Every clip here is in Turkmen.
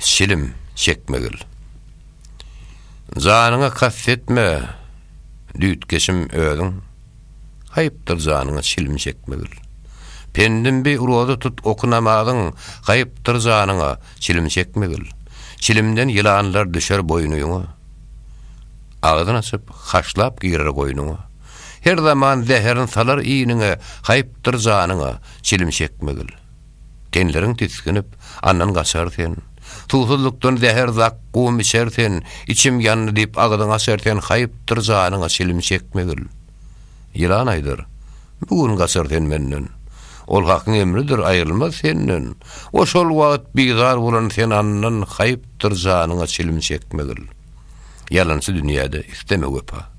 Çilim çekmegil. Janyňa kast etme, düýtgeşim, özüň. Haýpdyr janyňa çilim çekmegil. Pendim bi, roza tut, oky namazyň, haýpdyr janyňa çilim çekmegil. Çilimden ýylanlar düşer boýnuňa. Agzyn açyp, haşlap girer goýnuňa. Her zaman zäherin salar iýniňe, haýpdyr janyňa çilim çekmegil. Tenleriň tisginip, andan gaçar sen. Suwsuzlykdan zäher zak gum içer sen, Içim ýandy diýip agzyňy açar sen, Haýpdyr janyňa çilim çekmegil. Ýylan aýdar, Bu gün gaçar sen menden. Ol Hakyň emridir, aýrylmaz senden. Ol-şol wagt bizar bolan sen andan, Haýpdyr janyňa çilim çekmegil. Ýalançy dünýäde isleme wepa.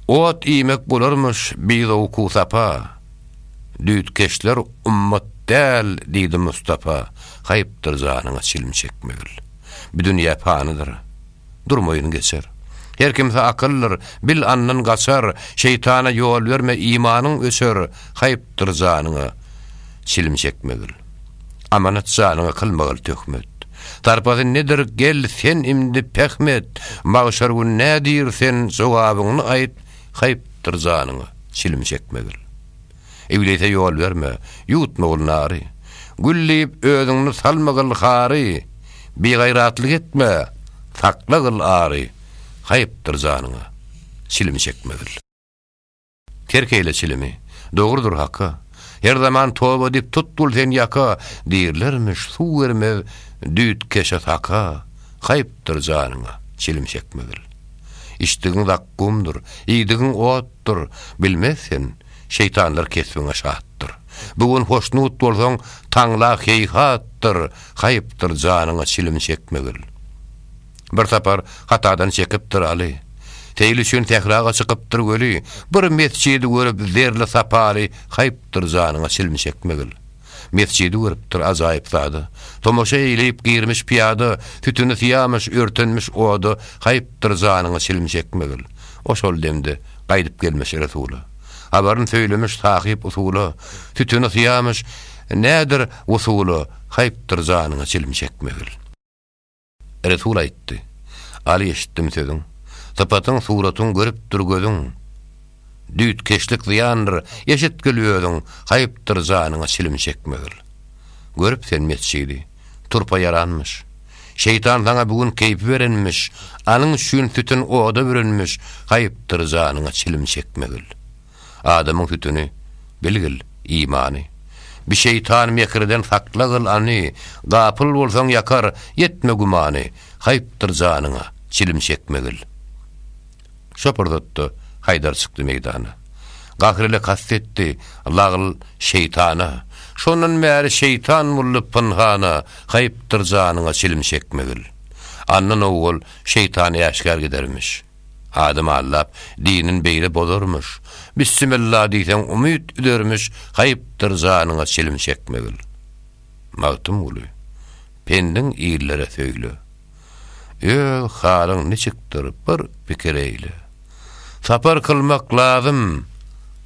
Ot iýmek bolarmyş bizowku-sapa, Düýtgeşler ummat däl diýdi Mustapa, Haýpdyr janyňa çilim çekmegil. Bu dünýä panydyr, durmaýyn geçer. Her kimse akyldyr, bil andan gaçar, Şeýtana ýol berme imanyň öçer, Haýpdyr janyňa çilim çekmegil. Amanat janyňy kylmagil töhmet. Sarpasy nedir gel sen imdi pähm et, magşar gün nädir sen jogabyňny aýt haýpdyr janyňa çilim çekmegil. Iblise ýol berme, ýutmagil nary, gül diýip özüňni salmagil hary, bigaýratlyk etme, saklagil ary, haýpdyr janyňa çilim çekmegil. Terk eýle çilimi. Dogrudyr haka, Her zaman toba edip tutdul sen ýaka, Diýirlermiş, suw bermez düýt keşe saka, Haýpdyr janyňa çilim çekmegil. Içdigiň zakgumdyr, iýdigiň otdur, Bilmez sen, şeýtanlar kesbiňe şatdyr. Bu gün hoşnut bolsaň, taňla heýhatdyr, Haýpdyr janyňa çilim çekmegil. Bir sapar hatadan çekipdir Aly. Seýil üçin sähraga çykypdyr weli, Bir mesjidi görüp zerli sapaly, Haýpdyr janyňa çilim çekmegil. Mesjidi görüpdir ajaýyp sada, Tomaşa eýleýip girmiş pyýada, Sütüni syýamyş, örtenmiş oda, Haýpdyr janyňa çilim çekmegil. O şol demde gaýdyp gelmiş Resula. Habaryn söýlemiş sahyp usula, Sütüni syýamyş, nädir wusula, Haýpdyr janyňa çilim çekmegil. Resul aýtdy, Aly eşitdim sözüň, Sypatyň, suratyň görüpdir gözüň. Düýtkeşlik zyýandyr, eşitgil özüň, Haýpdyr janyňa çilim çekmegil. Görüp sen mesjidi, turpa ýaranmyş, Şeýtan saňa bu gün keýpi berenmiş, Anyň üçin sütün oda bürenmiş, Haýpdyr janyňa çilim çekmegil. Adamyň sütüni, bilgil, imany. Bi şeýtan mekirden sakla gyl any, Gapyl bolsaň ýakar, etme gümany, Haýpdyr janyňa, çilim çekmegil. Şo pursatda Haýdar çykdy meýdana. Gahr ile kast etdi, lagl, şeýtana, Şondan bäri şeýtan boldy pynhana, Haýpdyr janyňa, çilim çekmegil. Andan owal şeýtan äşgär gidermiş. Adam aldap, dinin beýle bozarmyş. Bissimilla diýseň umyt üzermiş, haýpdyr janyňa çilim çekmegil. Magtymguly, pendiň illere söýle. Öz halyň niçikdir, bir pikir eýle. Sapar kylmak lazym,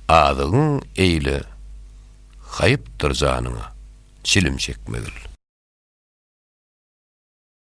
azygyň eýle. Haýpdyr janyňa çilim çekmegil.